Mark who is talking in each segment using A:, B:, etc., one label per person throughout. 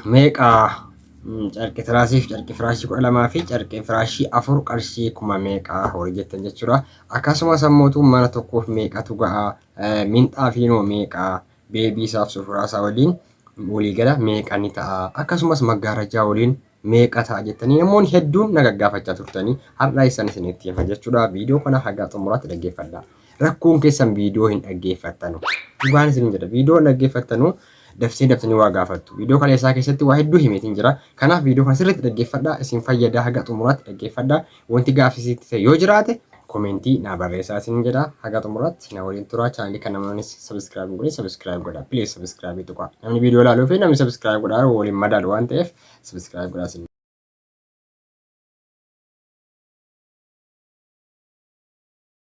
A: meeqa? Carqii tiraasii fi carqii firaashii kudha lamaa fi carqii firaashii afur qarshii kuma meeqa horii jettan jechuudha. Akkasumas ammootu mana tokkoof meeqatu ga'a? Minxaa fi noo meeqa? Beebii isaaf sufuraa isaa waliin waliigala meeqa ni ta'a? Akkasumas maggaarajaa waliin meeqa ta'a jettanii namoonni hedduun na gaggaafachaa turtanii har'a isaan isinitti hima jechuudha. Viidiyoo kana haga xumuraatti dhaggeeffadhaa. Rakkoon keessan viidiyoo hin dhaggeeffattanu. Dhugaan isin jedha viidiyoo hin dhaggeeffattanu dabsee dabsanii waa gaafattu. Viidiyoo kaleessaa keessatti waa hedduu himeetiin jira. Kanaaf viidiyoo kana sirriitti dhaggeeffadhaa isin fayyada haga xumuraatti dhaggeeffadhaa. Wanti gaafisiitti ta'e yoo jiraate komentii naa barreessaa isin jedha haga xumuraatti na waliin turaa chaanalii kana namnis sabiskiraayib hin godhin sabiskiraayib godha please sabiskiraayibii tuqaa namni viidiyoo ilaaluu fi namni sabiskiraayib godhaa waliin madaalu waan ta'eef sabiskiraayib godhaa isin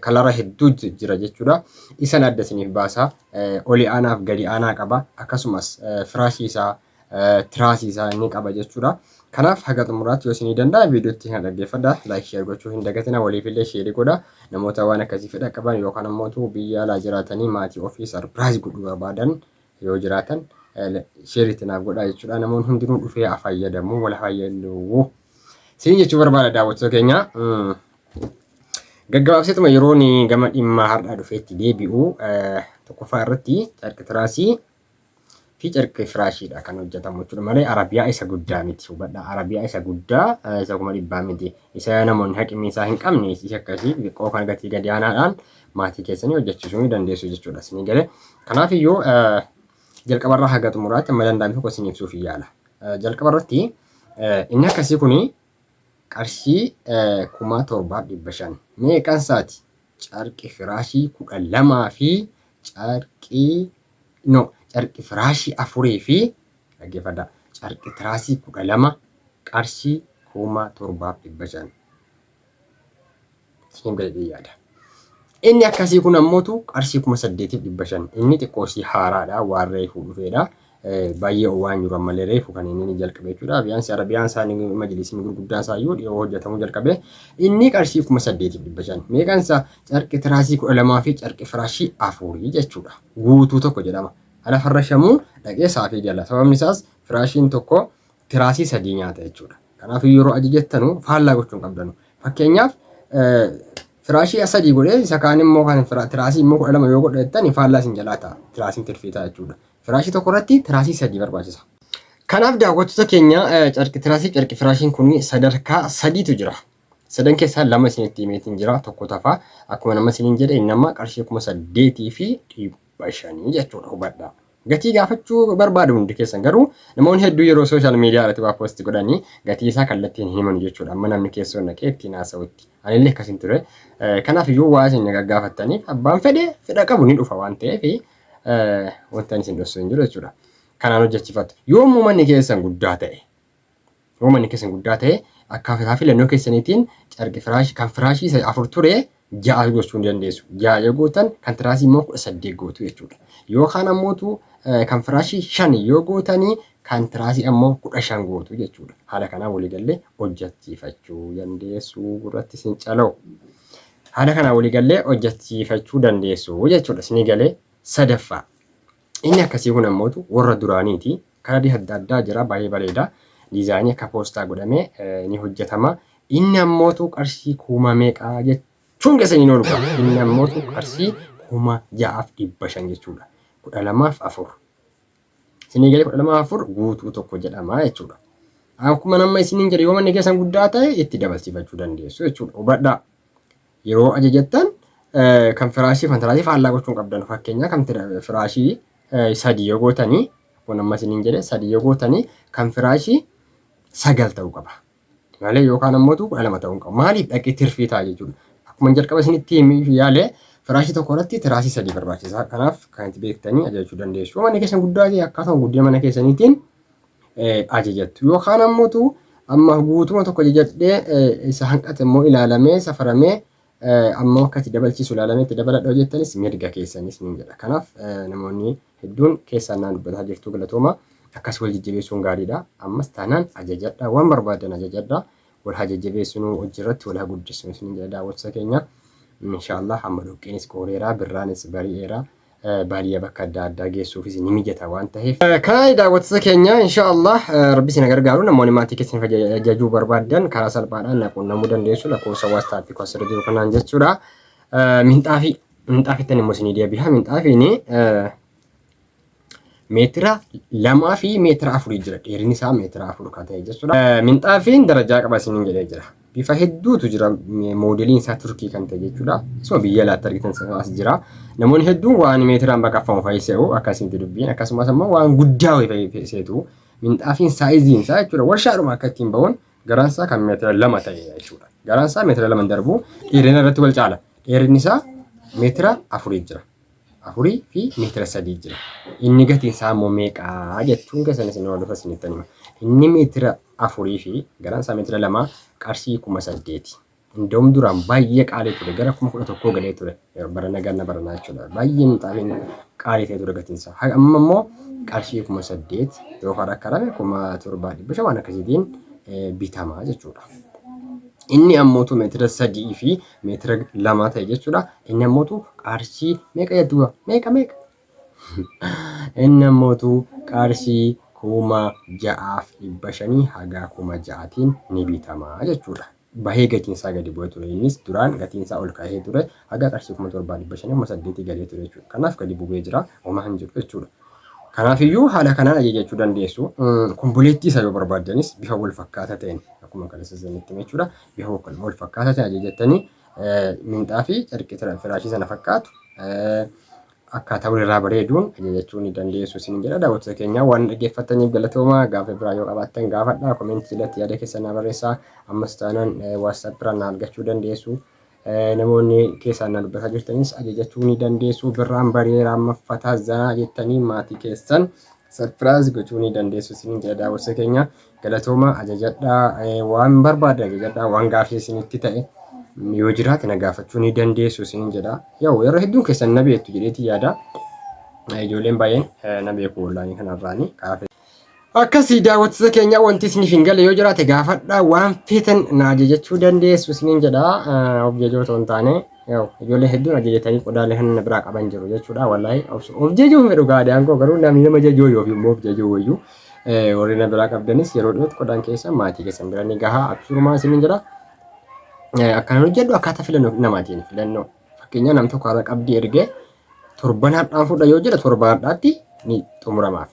A: kalara hedduu jira jechuudha. Isan adda isiniif baasa. Oli aanaaf gadi aanaa qaba. Akkasumas firaashii isaa tiraasii isaa ni qaba jechuudha. Kanaaf haga xumuraatti yoo isinii danda'a viidiyootti kana dhaggeeffadha. Laayik sheer gochuu hin dagatina waliifillee sheeri godha. Namoota waan akkasii fedha qaban yookaan ammoo biyya alaa jiraatanii maatii ofii sarpiraayiz godhuu barbaadan yoo jiraatan sheeritti naaf godhaa jechuudha. Namoonni hundinuu dhufee haa fayyadamu wal fayyadamu. Siin jechuu barbaada daawwattoota keenya. Gaggabaabseetuma yeroon gama dhimma har'aa dhufeetti deebi'u tokkoffaa irratti carqi tiraasii fi carqi firaashiidha kan hojjetamu jechuudha malee arabiyaa isa guddaa miti hubadha arabiyaa isa guddaa isa kuma dhibbaa miti isa namoonni haqimni isaa hin qabne isa akkasii xiqqoo kan gatii gadi aanaadhaan maatii keessanii hojjechiisuu ni dandeessu jechuudha isinii galee kanaaf iyyuu jalqabarraa haga xumuraatti amma danda'ame tokko isin ibsuuf yaala jalqabarratti inni akkasii kuni Qarshii kumaa torbaaf dhibba shan. Mee qan saati? Carqi firaashii kudha lamaa fi carqii no carqi firaashii afurii fi dhaggeeffadha carqi tiraasii kudha lama qarshii kumaa torbaaf dhibba shan. siin jedhee yaada. Inni akkasii kun ammootu qarshii kuma saddeetiif dhibba shan inni xiqqoosii haaraadha waan reefuu dhufeedha. Baay'ee waan jiru ammallee reefu kan inni jalqabe jechuudha. Biyyaansi Arabiyaan isaa majlisiin gurguddaan isaa iyyuu dhiyoo hojjetamuu jalqabe. Inni qarshii kuma saddeetiif dhibba shan meeqaan isaa carqi tiraasii kudha lamaa fi carqi firaashii afurii jechuudha. Guutuu tokko jedhama. Ala farrashamuu dhaqee saafii gala. Sababni isaas firaashiin tokko tiraasii sadii nyaata jechuudha. Kanaafuu yeroo ajajattanu faallaa gochuu hin qabdanu. Fakkeenyaaf firaashii sadii godhee isa kaan immoo kan tiraasii immoo kudha lama yoo godhe jettani faallaa isin jalaa ta'a. Tiraasiin tirfiitaa jechuudha. Firaashii tokko irratti tiraasii sadii barbaachisa. Kanaaf daawwattoota keenya carqi tiraasii carqi firaashiin kun sadarkaa sadiitu jira. Sadan keessaa lama isinitti himeetiin jira tokko tafa akkuma nama isiniin jedhe nama qarshii kuma saddeetii fi dhibba shanii jechuudha hubadhaa. Gatii gaafachuu barbaadu hundi keessan garuu namoonni hedduu yeroo social media irratti waa post godhani gatii isaa kallattiin hin himanu jechuudha amma namni keessoo naqee ittiin haasa'utti anillee akkasin ture kanaaf iyyuu waa isin gaggaafattaniif abbaan fedhe fedha qabu ni dhufa waan ta'eef wantan isin dhossu hin jiru jechuudha kanaan hojjechifattu yoommoo manni keessan guddaa ta'e Yoo manni keessan guddaa ta'e, akkaataa filannoo keessaniitiin carqi firaashii kan firaashii isa afur ture ja'a gochuu ni dandeessu. Ja'a yoo gootan kan tiraasii immoo kudha saddeet gootu jechuudha. Yookaan ammootu kan firaashii shan yoo gootanii kan tiraasii ammoo kudha shan gootu jechuudha. Haala kanaan waliigallee hojjachiifachuu dandeessu irratti isin caloo. Haala kanaan waliigallee hojjachiifachuu dandeessu jechuudha. Isinii galee sadaffaa. Inni akkasii kun ammootu warra duraaniiti. Kalarri adda addaa jira baay'ee bareeda. Diizaayinii akka poostaa godhamee ni hojjetama. Inni ammootu qarshii kuma meeqa jechuun keessa hin oolu qaba. Inni ammootu qarshii kuma ja'aaf dhibba shan jechuudha. Kudha lamaaf afur. Isinii galee kudha lamaaf afur guutuu tokko jedhama jechuudha. Akkuma nama isiniin jedhe yoo manni keessan guddaa ta'e itti dabalsiifachuu dandeessu jechuudha. Hubadhaa. Yeroo ajajattan kan firaashii fi kan tiraasii faallaa gochuu hin qabdan. Fakkeenyaa kan firaashii sadii yoo gootanii kun amma isiniin jedhe sadii yoo gootanii kan firaashii sagal ta'uu qaba. Malee yookaan ammoo kudha lama ta'uu hin qabu. Maaliif dhaqee tirfii ta'a jechuudha. Akkuma jalqaba isinitti himuu yaale firaashii tokko irratti tiraasii sadii barbaachisa. Kanaaf kan itti beektanii ajajachuu dandeessu. Manni keessan guddaa ta'e akkaatuma guddina mana keessaniitiin ajajattu. Yookaan ammoo tu amma guutuma tokko ajajadhee isa hanqate immoo ilaalamee safaramee ammoo akka itti dabalchiisu ilaalamee itti dabaladha hojjettanis mirga keessanis niin jedha. Kanaaf namoonni hedduun keessaan naan dubbataa jirtu galatooma. Akkas wal jajjabeessuun gaariidha. Ammas taanaan ajajadha. Waan barbaadan ajajadha. Wal haa jajjabeessinuu hojii irratti wal haa guddisnu isiniin jedha daawwattoota keenya. Inshaallah amma dhoqqeenis qooreera birraanis bari'eera. baadiyyaa bakka adda addaa geessuufis ni mijata waan taheef. Kanaa daawwattoota keenya insha Allah rabbi isin gargaaru namoonni maatii keessan jajuu barbaadan karaa salphaadhaan na quunnamuu dandeessu lakkoofsa waastaappii koo asirra jiru kanaan jechuudha. Minxaafii minxaafittan immoo isinii deebiha minxaafiin meetira lamaa fi meetira afurii jira dheerinni isaa meetira afur kan ta'e jechuudha. Minxaafiin darajaa qaba isiniin jedhee jira. Bifa hedduutu jira moodeliin isaa turkii kan ta'e jechuudha. Isuma biyya alaatti argitan sanaas jira. Namoonni hedduun waan meetiraan baqaffamu fa'i se'u akkasitti dubbiin akkasumas immoo waan guddaa wayii fa'i seetu minxaafiin saayiziin isaa jechuudha warshaadhuma akka ittiin ba'uun garaan isaa kan meetira lama ta'e jechuudha. Garaan isaa meetira lama darbu dheerina irratti wal caala. Dheerinni isaa meetira afurii jira. 4 fi meetira 3 jira. Inni gatiin isaa immoo meeqa jechuun keessan isin hordofa isinitti hima. Inni meetira 4 fi garaan isaa meetira 2 qarshii 8,000. Indoom duraan baay'ee qaalii ture gara 11,000 galee ture barana ganna baranaa jechuudha. Baay'ee mixaaliin qaalii ta'e ture gatiin isaa. Amma immoo qarshii 8,000 yoo fara karame 7,500 waan akkasiitiin bitama jechuudha. Inni ammoo meetira 3 fi meetira lama ta'e jechuudha. Inni ammootu qarshii meeqa jettuuba? Meeqa meeqa? Inni ammootu qarshii kuma ja'aaf dhibba shanii haga kuma ja'atiin ni bitama jechuudha. Bahee gatiin isaa gadi bu'ee ture. Innis duraan gatiin isaa ol ka'ee ture. Haga qarshii kuma torbaa dhibba shanii kuma saddeetii galee ture jechuudha. Kanaaf gadi bu'ee jira. Homaa hin jiru jechuudha. Kanaafiyyuu haala kanaan ajajachuu dandeessu. Komboleettii isaa yoo barbaaddanis bifa wal fakkaataa ta'een akkuma kaleessa isinitti hime jechuudha. Yahoo kan wal fakkaata si ajajattanii minxaafii carqii turan firaashii sana fakkaatu akkaataa walirraa bareeduun ajajachuu ni dandeessu isin jedha daawwattoota keenyaa waan dhaggeeffattaniif galatoomaa gaafa biraa yoo qabaattan gaafadha komentii jalatti yaada keessan naa barreessaa ammas taanaan waatsaap irraa na argachuu dandeessu namoonni keessaan na dubbataa jirtanis ajajachuu ni dandeessu birraan bareeraa amma fataa zanaa jettanii maatii keessan sarpiraayis gochuu ni dandeessu isin jedha daawwattoota keenyaa Galatoomaa ajajadhaa waan barbaaddan ajajadhaa waan gaafii isinitti ta'e yoo jiraate na gaafachuu ni dandeessu isiniin jedha. Yoo yeroo hedduun keessan na beektu jedheeti yaada. Ijoolleen baay'een na beeku wallaanii kanarraanii kaafee. Akkasii daawwattoota keenya wanti isiniif hin galle yoo jiraate gaafadhaa waan feetan na ajajachuu dandeessu isiniin jedha. Of jajoo otoo hin taane ijoollee hedduun ajajatanii qodaalee kan na biraa qaban jiru jechuudha wallahi of jajuun fedhu gaadaan koo garuu namni nama jajoo yoo fi immoo of jajoo wayyuu. Warri na biraa qabdanis yeroo dhiyootti qodaan keessan maatii keessan bira ni gaha. Abshurumaa isinin jedha. Akkanaan hojjedhu akkaataa filannoo namaatiin filannoo. Fakkeenyaa nam tokko har'a qabdii ergee torban hadhaan fudha yoo jedhe torba hadhaatti ni xumuramaaf.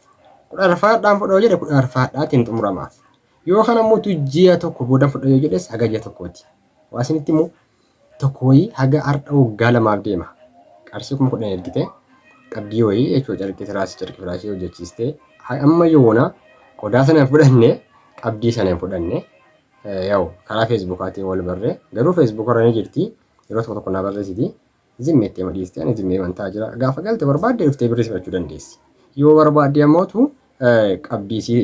A: Kudha arfaa hadhaan fudha yoo jedhe kudha arfaa hadhaatti ni xumuramaaf. Yoo kana mootu ji'a tokko booda fudha yoo jedhes haga ji'a tokkooti. Waa isinitti immoo tokko wayii haga hardha woggaa lamaaf deema qarshii kuma kudhan ergite qabdii wayii jechuu carqii tiraasi carqii firaashii hojjechiiste amma yoona qodaa sana hin fudhanne qabdii sana hin fudhanne yaw karaa feesbuukaatiin wal barre garuu feesbuuka irra ni jirti yeroo tokko tokko naa barreessiti zimmi itti hima dhiiste ani zimmi himan ta'a jira gaafa galte barbaadde dhuftee birrii si fudhachuu dandeessi yoo barbaadde ammoo tu qabdii si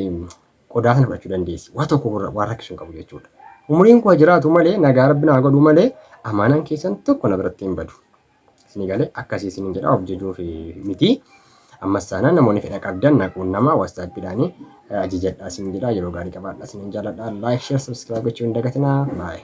A: qodaa sana fudhachuu dandeessi. Waa tokko irra waan rakkisu hin qabu jechuudha. Umriin koo jiraatu malee nagaa rabbi naa godhu malee amaanaan keessan tokko na biratti hin badu. Isinii galee akkasii isiniin jedha of jajuuf miti. Ammas taanaan namoonni fedha qabdan na quunnamaa waastaappiidhaan ajajadhaa isiniin jedha yeroo gaarii qabaadhaa isiniin jaaladha. Laayik, sheer, sabskiraayib gochuu hin dagatinaa. Baay'ee.